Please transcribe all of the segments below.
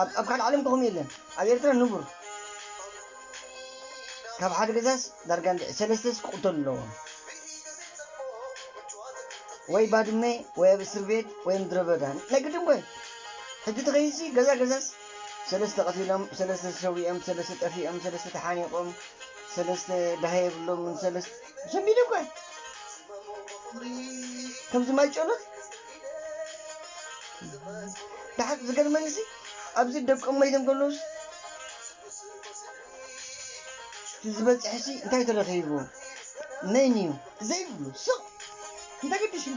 ኣብ ኣብ ካልእ ዓለም እኮ ከምኡ የለን ኣብ ኤርትራ ንቡር ካብ ሓደ ገዛስ ዳርጋ እንድዒ ሰለስተስ ክቕተሉ ኣለዎም ወይ ባድመ ወይ ኣብ እስርቤት ወይ ምድረበዳ ናይ ግድን እኮ እዩ ሕጂ ተኸይድሲ ገዛ ገዛስ ሰለስተ ቀቲሎም ሰለስተ ተሰዊኦም ሰለስተ ጠፊኦም ሰለስተ ተሓኒቖም ሰለስተ ዳሃ የብሎምን ሰለስተ ዘንቢለ እኮ ከምዚ ማይ ጨሎት ብሓቂ ዝገርመኒ ሲ ኣብዚ ደቆም መይቶም ከለውስ ዝበፅሐ ሲ እንታይ ተረኺቡ መን እዩ ዘይብሉ ስቕ እንተገዲሽም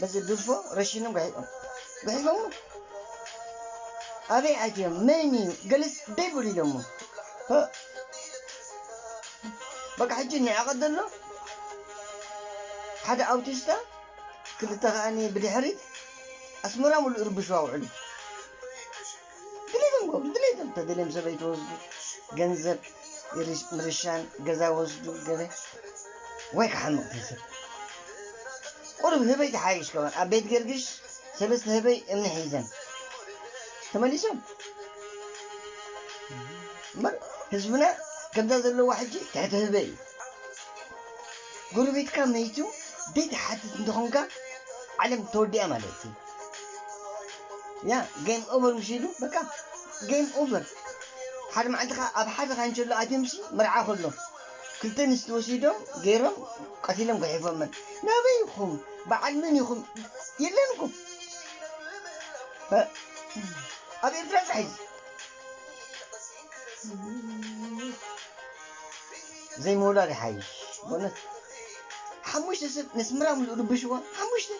በዚ ድርፎ ረሺኖም ጉሒፎም ጉሒፎሞ ኣበይ ኣትዮም መን እዩ ገለስ ደይብሉ ኢሎሞ በቃ ሕጂ ንዕቐት ዘሎ ሓደ ኣውቲስታ ክልተ ከኣ ብድሕሪት ኣስመራ ሙሉእ ይርብሽዋ ውዕሉ ድሌቶም ክገብሩ ድሌቶም ተደልዮም ሰበይቲ ወስዱ ገንዘብ ምርሻን ገዛ ወስዱ ገለ ወይ ክሓምቕ ተሰብ ቁሩብ ህበይ ትሓይሽ ከማን ኣብ ቤት ገርግሽ ሰለስተ ህበይ እምኒ ሒዘን ተመሊሶም እምበር ህዝብና ከምዛ ዘለዋ ሕጂ ትሕቲ ህበይ እዩ ጎረቤትካ መይቱ ዘይትሓትት እንተኾንካ ዓለም ተወዲኣ ማለት እዩ ያ ጌም ኦቨር ምስ ኢሉ በቃ ጌም ኦቨር ሓደ መዓልቲ ከ ኣብ ሓደ ካንቸሎ ኣትዮም ሲ መርዓ ከሎ ክልተ ኣንስቲ ወሲዶም ገይሮም ቀቲሎም ጉሒፎመን ናበይ ኢኹም በዓል መን ኢኹም የለን እኮ እ፣ ኣብ ኤርትራ ጥራሕ እዩ ዘይምውላድ ይሓይሽ በእውነት ሓሙሽተ ሰብ ነስምራ ምሉእ ርብሽዋ ሓሙሽተ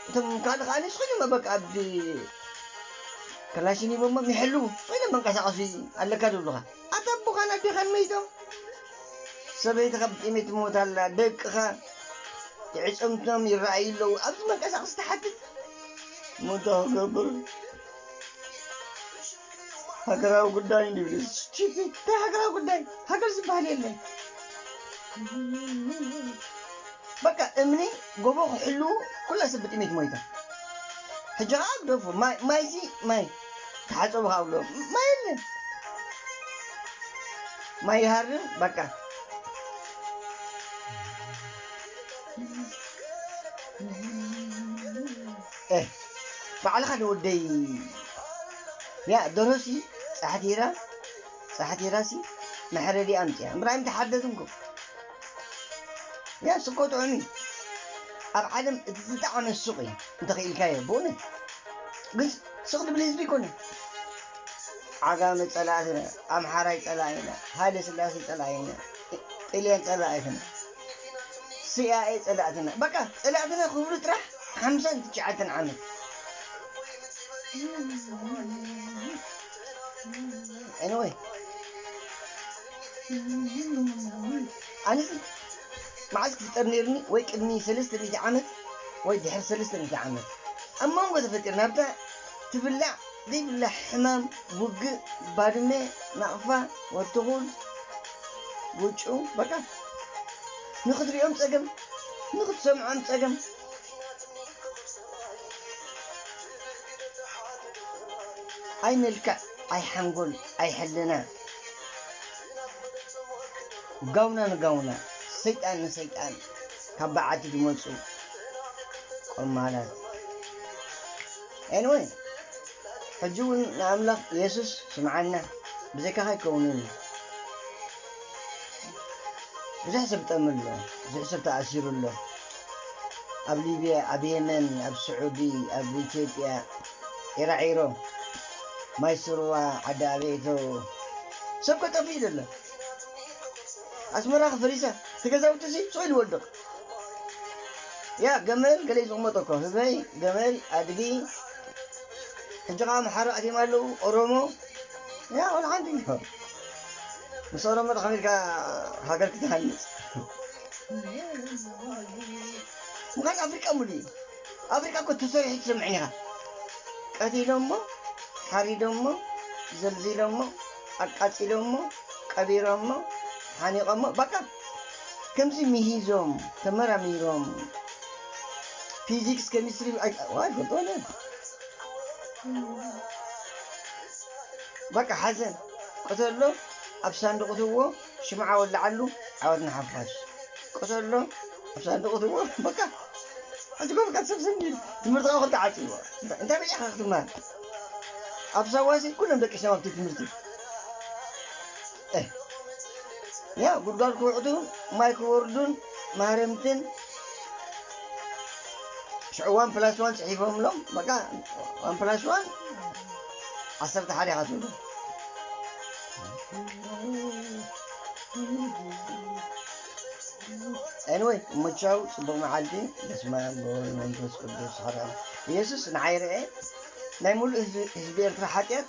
እቶም ካልእ ከኣ ንስኺ በቃ ኣብ ክላሽን ሂቦሞ ይሕልዉ ኮይኖም መንቀሳቐሲ ኣለካ ዝብሉኻ ኣታ ኣቦኻን ኣዴኻን መይቶም ሰበይትኻ ብጥሜት ትሞት ኣላ ደቅኻ ትዕፅምቶም ይረኣዩ ኣለዉ ኣብዚ መንቀሳቐሲ ትሓትት ሞታ ክገብር ሃገራዊ ጉዳይ እንዲብል እዩ ስቲፒድ እንታይ ሃገራዊ ጉዳይ ሃገር ዝበሃል የለን በቃ እምኒ ጎቦ ክሕልዉ ኩላ ሰብ ብጥሜት ሞይታ ሕጂ ከዓ ግደፉ ማይ ማይሲ ማይ ተሓፀቡ ከዓ ብሎ ማይ የለን ማይ ይሃርም በቃ ኤህ ባዕልኻ ዶ ወደይ ያእ ደርሆ ሲ ጻሕቲራ ጻሕቲራ ሲ መሕረዲኣ ኣምጺኣ እምበር ኣይምተሓርደትን እኮ ያእ ስቆ ጥዑም እዩ ኣብ ዓለም እቲ ዝጠዓመ ሱቅ እዩ እንተኺኢልካዮ ብእውነት ግንስ ስቅ ድብል ህዝቢ ኣይኮነን ዓጋመ ጸላእትና ኣምሓራይ ጸላኢና ሃይለ ስላሴ ጸላኢና ጥልያን ጸላኢትና ሲኣይኤ ጸላእትና በቃ ጸላእትና ክብሉ ጥራሕ ሓምሳን ትሽዓተን ዓመት Anyway. ኣነሲ መዓዝ ክፍጠር ነይርኒ ወይ ቅድሚ 300 ዓመት ወይ ድሕሪ 300 ዓመት ኣብ መንጎ ተፈጢር ናብታ ትብላዕ ዘይብላዕ ሕማም ውግእ ባድመ ናቕፋ ወርትኹል ጉጩ በቃ ንክትሪኦም ጸገም ንክትሰምዖም ጸገም። ኣይ መልክዕ ኣይ ሓንጎል ኣይ ሕልና ጋውና ንጋውና ሰይጣን ንሰይጣን ካብ በዓቲ ድመጹ ቆማላት። Anyway ሕጂ ውን ንኣምላኽ የሱስ ስምዓና ብዘይካኻ ኣይከውንን ኢዩ ብዙሕ ሰብ ጠምዩ ኣሎ ብዙሕ ሰብ ተኣሲሩ ኣሎ ኣብ ሊብያ ኣብ የመን ኣብ ስዑዲ ኣብ ኢትዮጵያ ዒራዒሮ ማይ ስርዋ ዓዲ ኣበይቶ ሰብ ከጠፍእ ኢዩ ዘሎ ኣስመራ ከፈሪሳ እቲ ገዛውቲ ሲ ሱቕ ኢሉ ይወድቕ ያእ ገመል ገለ እዩ ዝቕመጦ እኮ ህዝበይ ገመል ኣድጊ ሕጂ ከዓ ኣምሓራ ኣትዮም ኣለው ኦሮሞ ያ ኩሉ ሓንቲ እዩ ምስ ኦሮሞ ዶ ከመይ ኢልካ ሃገር ክትሃንፅ ምዃን ኣፍሪቃ ሙሉ እዩ ኣፍሪቃ እኮ ተሰሪሑ ትሰምዕን ኢኻ ቀቲሎሞ ሓሪዶሞ ዘልዚሎሞ ኣቃፂሎሞ ቀቢሮሞ ሓኒቖሞ ባቃ ከምዚ ምሂዞም ተመራሚሮም ፊዚክስ ከሚስትሪ ኣይፈልጥዎን እዮም በቃ ሓዘን ቅተሎ ኣብ ሳንዱቕ እትዎ ሽምዓ ወላዓሉ ዓወት ንሓፋሽ ቅተሎ ኣብ ሳንዱቕ እትዎ በቃ ሕጂ እኮ በቃ ሰብ ስም ይብል ትምህርቲ ካብኡ ክልተ ዓጽይዎ እንታይ እንታይ በይ ኢኻ ክትምሃር ኣብ ሳዋሲ ኩሎም ደቂሶም ኣብቲ ትምህርቲ እህ ያው ጉድጓድ ክውዕቱ ማይ ክወርዱን ማህረምትን ሽዑ ዋን ፕላስ ዋን ጽሒፎምሎም በቃ ዋን ፕላስ ዋን ዓሰርተ ሓደ ኢኻ ትብሉ ኤንወይ ምቻው ፅቡቅ መዓልቲ በስመ ኣብ ወወልድ መንፈስ ቅዱስ ሓደ ኢየሱስ ንዓይ ረኤ ናይ ሙሉእ ህዝቢ ኤርትራ ሓጢኣት